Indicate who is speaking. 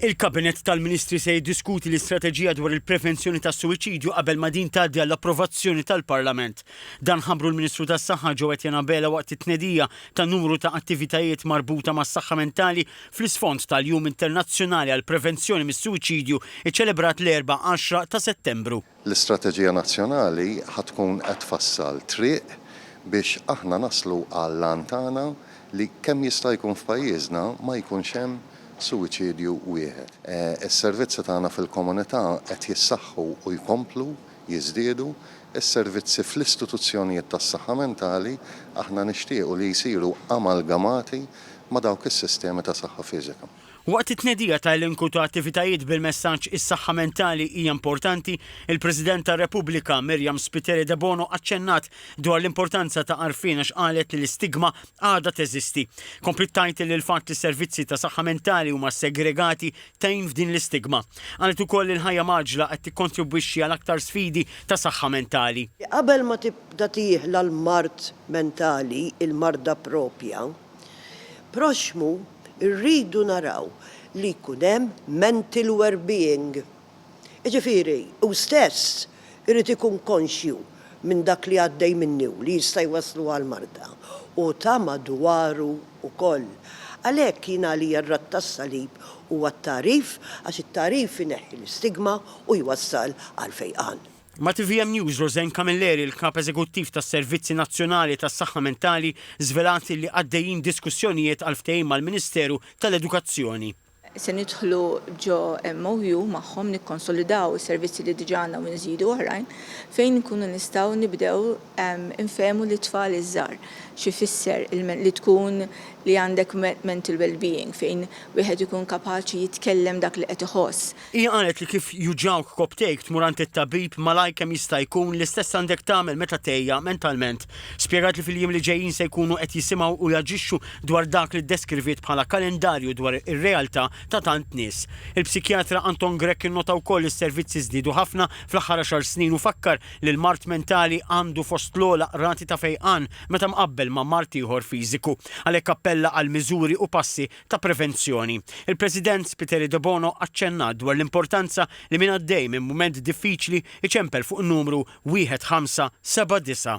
Speaker 1: Il-Kabinett tal-Ministri se jiddiskuti l-istrateġija dwar il-prevenzjoni tas-suwiċidju qabel ma din tgħaddi għall-approvazzjoni tal-Parlament. Dan ħabbru l-Ministru tas-Saħħa Joe Etienne Abela waqt it-tnedija ta' numru ta' attivitajiet marbuta mas-saħħa mentali fl-isfond tal-Jum Internazzjonali għall-Prevenzjoni mis-Suwiċidju ċċelebrat l-Erbgħa 10 ta' Settembru. L-istrateġija
Speaker 2: nazzjonali ħa tkun qed tfassal triq biex aħna naslu għall-għan tagħna li kemm jista' jkun f'pajjiżna ma jkunx hemm suwiċidju wieħed. Is-servizzi tagħna fil-komunità qed jissaħħu u jkomplu jiżdiedu. Is-servizzi fl-istituzzjonijiet tas-saħħa mentali aħna nixtiequ li jsiru amalgamati ma' dawk is-sistemi ta' saħħa fiżika. Waqt it-tnedija
Speaker 1: ta' elenku ta' attivitajiet bil-messaġġ Is-saħħa mentali hija importanti, il-President tar-Repubblika, Miriam Spiteri Debono aċċennat dwar l-importanza ta' għarfien għax qalet li l-istigma għadha teżisti. Kompliet tgħid li l-fatt li s-servizzi ta' saħħa mentali huma segregati tgħin f'din l-istigma. Qalet ukoll li l-ħajja mgħaġġla qed tikkontribwixxi għal aktar sfidi ta' saħħa mentali. Qabel ma
Speaker 3: tibda tieħla l-mard mentali, il-marda proprja, proxxmu Irridu naraw li jkun hemm mental werbeing. Jiġifieri, hu stess irid ikun konxju minn dak li għaddej minnu li jista' jwasslu għal marda u ta' madwaru wkoll. Għalhekk jien għalija r-Radd tas-Salib huwa t-tagħrif għax it-tagħrif ineħħi l-istigma u jwassal għall-fejqan. Ma' tvm News,
Speaker 1: Roseanne Camilleri, l-Kap Eżekuttiv tas-Servizzi Nazzjonali tas-Saħħa Mentali, żvelat li għaddejjin diskussjonijiet għal ftehim mal-Ministeru tal-Edukazzjoni. Se nidħlu
Speaker 4: ġo MOU magħhom nikkonsolidaw is-servizzi li diġà għandna u nżidu oħrajn fejn inkunu nistgħu nibdew infehmu lit-tfal iż-żgħar x'ifisser li tkun li għandek mental wellbeing fejn wieħed ikun kapaċi jitkellem dak li qed iħoss. Hija qalet li kif
Speaker 1: juġgħuk kopptejk tmur għand it-tabib malajr kemm jista' jkun, l-istess għandek tagħmel meta tgħejja mentalment. Spjegat li fil-jiem li ġejjin se jkunu qed jisimgħu u jaġixxu dwar dak li ddeskriviet bħala kalendarju dwar ir-realtà ta' tant nies. Il-psikjatra Anton Grech innota wkoll li s-servizzi żdiedu ħafna fl-aħħar għaxar snin u fakkar li l-mard mentali għandu fost l-ogħla rati ta' fejqan meta mqabbel ma' mard ieħor fiżiku. Għalhekk appella għal miżuri u passi ta' prevenzjoni. Il-President Spiteri Debono aċċennat dwar l-importanza li min għaddej minn mument diffiċli jċempel fuq in-numru 1579.